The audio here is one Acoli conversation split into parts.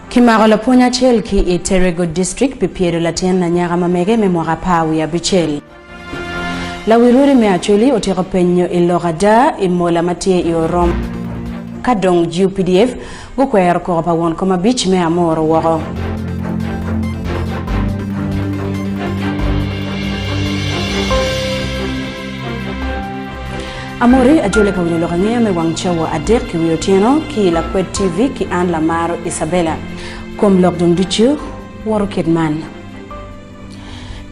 Kimako lapwony acel ki i Terego District pi pyedo latin anyaka ma mege me mwaka apar wiye abicel. Lawi rwodi me Acholi otyeko penyo i lok ada i mola ma tye i Orom. Ka dong GUPDF Gukwero koko pa won koma abic me Amor woko. Amori ajole ka winyo lok angeya me wang cawa adek ki wi otyeno ki i Lakwed TV ki an Lamaro Isabella. Kom lok dong ducu woto kit man.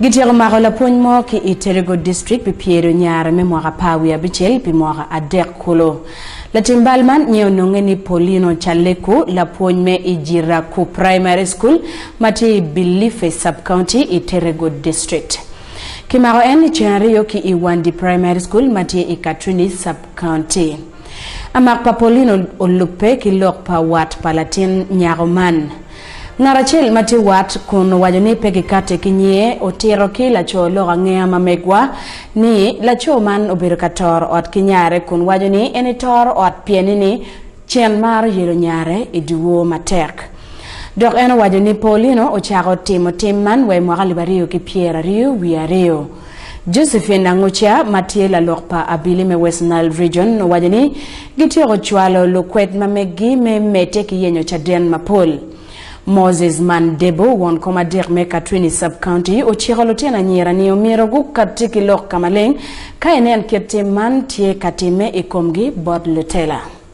Gityeko mako lapwony mo ki i Terego District pi pyedo nyare me mwaka apar wiye abicel pi mwaka adek kulu. Latim bal man nyen ononge ni Paulino Chaleku, lapwony me i Jiraku Primary School ma tye i Bilife Sub-County i Terego District. Kimako en licen aryo ki i Wandi Primary School ma tye i Katrini's Sub-County. Amak pa Paulino olubbe ki lok pa wat pa latin nyako man. Ngat acel ma tye wat kun owaco ni pe gikatti ki nyiye otito ki laco lok angeya ma megwa ni laco man obedo ka toro ot ki nyare kun waco ni en itoro ot pieni ni cen maro yelo nyare i dyewor matek. Dok en owaco ni Paulino ocako timo tim man wa i mwaka alip aryo ki pyeraryo wiye aryo. Josephine Angucia ma tye lalok pa Abili me West Nile Region owaco ni gityeko cwalo lukwed ma meggi me medde ki yenyo caden mapol. Moses Mandebo, won komadik me Katwini Sub-County ociko lutino anyira ni omyero gukatti ki lok ka maleng ka enen kit tim man tye ka timme i komgi bot lutela.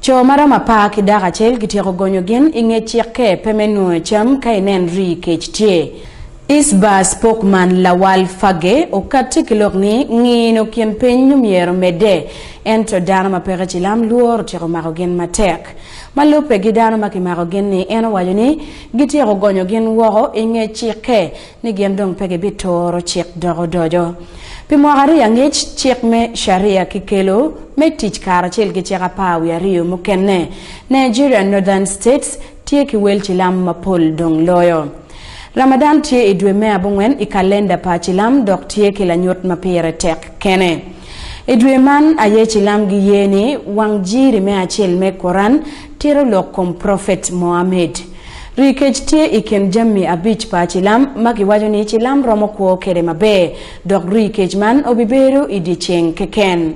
Co ma romo apar ki dako acel gityeko gonyo gin i nge cikke pe me nwoyo cam ka i nen rii kec tye. Isbah spokesman Lawal Fage okatti ki lok ni ngino kin piny nyo myero medde ento dano ma peke cilam lworo tyeko mako gin matek. Ma lubbe gi dano ma kimako gin ni en owaco ni gityeko gonyo gin woko i nge cikke ni gin dong pe gibituro cik dok odoco. Pi mwaka aryo angec, cik me Sharia kikelo me tic karacel ki cik apar wiye aryo mukene. Nigerian Northern States tye ki wel cilam mapol dong loyo. Ramadan tye i dwe me abongwen i kalenda pa cilam dok tye ki lanyut ma pire tek kene. I dwe man aye cilam giye ni wang jiri me acel me Quran Tito lok kom Prophet Mohammed. Rii kec tye i kin jammi abic pa cilam ma giwaco ni cilam romo kwo kede maber, dok rii kec man obibedo i dye ceng keken.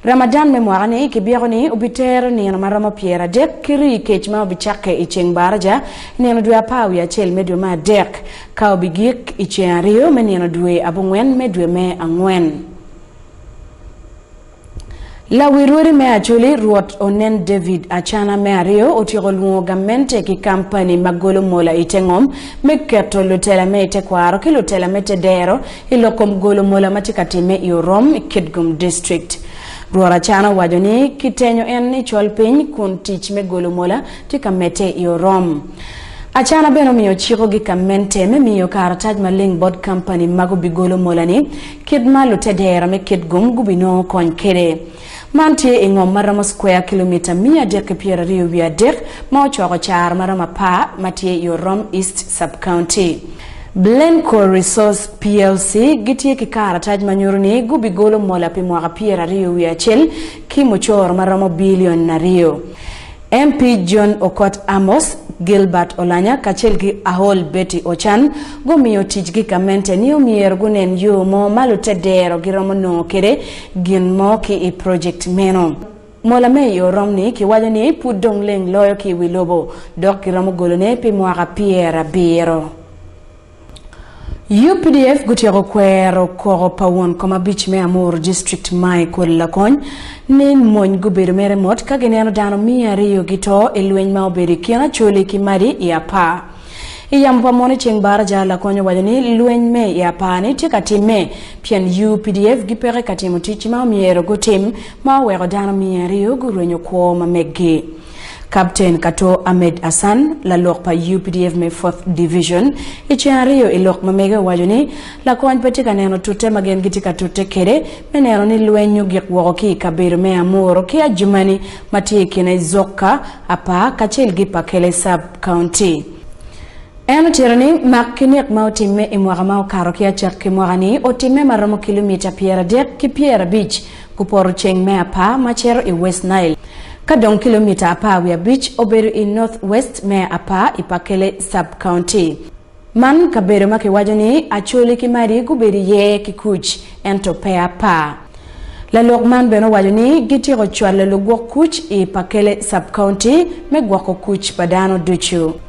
Ramadan me mwaka ni kibyeko ni obitero nino ma romo pyer adek ki rii kec ma obicakke i ceng Baraja i nino dwe apar wiye acel me dwe me adek ka obigik i ceng aryo me nino dwe abongwen me dwe me angwen. Lawi rwodi me Acholi, Rwot onen David Acana me Aryo otyeko lwongo gamente ki kampani ma golo mola i te ngom me keto lutela me i tekwaro ki lutela me te dero i lok kom golo mola ma tye ka timme i Orom i Kitgum District. Rwot Acana owaco ni kitenyo en i col piny kun tic me golo mola tye ka medde i Orom. Acana bene omiyo ciko gi gamente me miyo karatac maleng bot kampani ma gubigolo mola ni Kit ma lutedera me kit gum gubinongo kony kwede. Man tye i ngom ma romo square kilomita miya adek ki pyera aryo wiye adek ma ocoko caro ma romo apar ma tye i Orom East Sub-County. Blencore Resource plc gitye ki karatac ma nyuto ni gubigolo mola pi mwaka pyera aryo wiye acel ki mucoro ma romo bilion aryo. MP John Okot Amos, Gilbert Olanya kacel ki Ahol Betty Ochan gumiyo ticgi gamente ni omyero gunen yo mo ma lutedero giromo nongo kwede gin mo ki i project meno. Mola me i orom ni kiwaco ni pud dong leng loyo ki i wi lobo dok kiromo golone pi mwaka pyerabiro. Updf gutyeko kwero koko pa won kom abic me Amuru district Mai Koli Lakony ni mony gubedo mere mot ka gineno dano miya ariyo gito i lweny ma obedo i kin Acholi ki Madi i Apaa. I yamo pa moni ceng Baraja, Lakony owaco ni lweny me i Apaa ni tye ka timme pien updf gipeke ka timo ticgi ma omyero gutim ma oweko dano miya ariyo gurwenyo kwo ma meggi. Kapten Kato Ahmed Hassan, lalok pa updf me Fourth Division i ceng aryo i lok ma mege owaco ni lakony pe tye ka neno tute ma gin gitye ka tute kwede me neno ni lweny ogik woko ki i kabedo me Amuru ki Adjumani ma tye i kine Zokka, Apaa kacel gi Pakele Sub County. En otito ni mak ki nek ma otimme i mwaka ma okato ki acakki mwaka-ni otimme ma romo kilomita pyeradek ki pyerabic Kupoto ceng me apar ma cito i West Nile, ka dong kilomita apar wiye abic obedo i northwest me apar i Pakele Sub-County. Man kabedo ma kiwaco ni Acholi ki Madi gubedo iye ki kuc, ento pe apar. Lalok man bene owaco ni gityeko cwalo lugwok kuc i Pakele Sub-County me gwoko kuc pa dano ducu.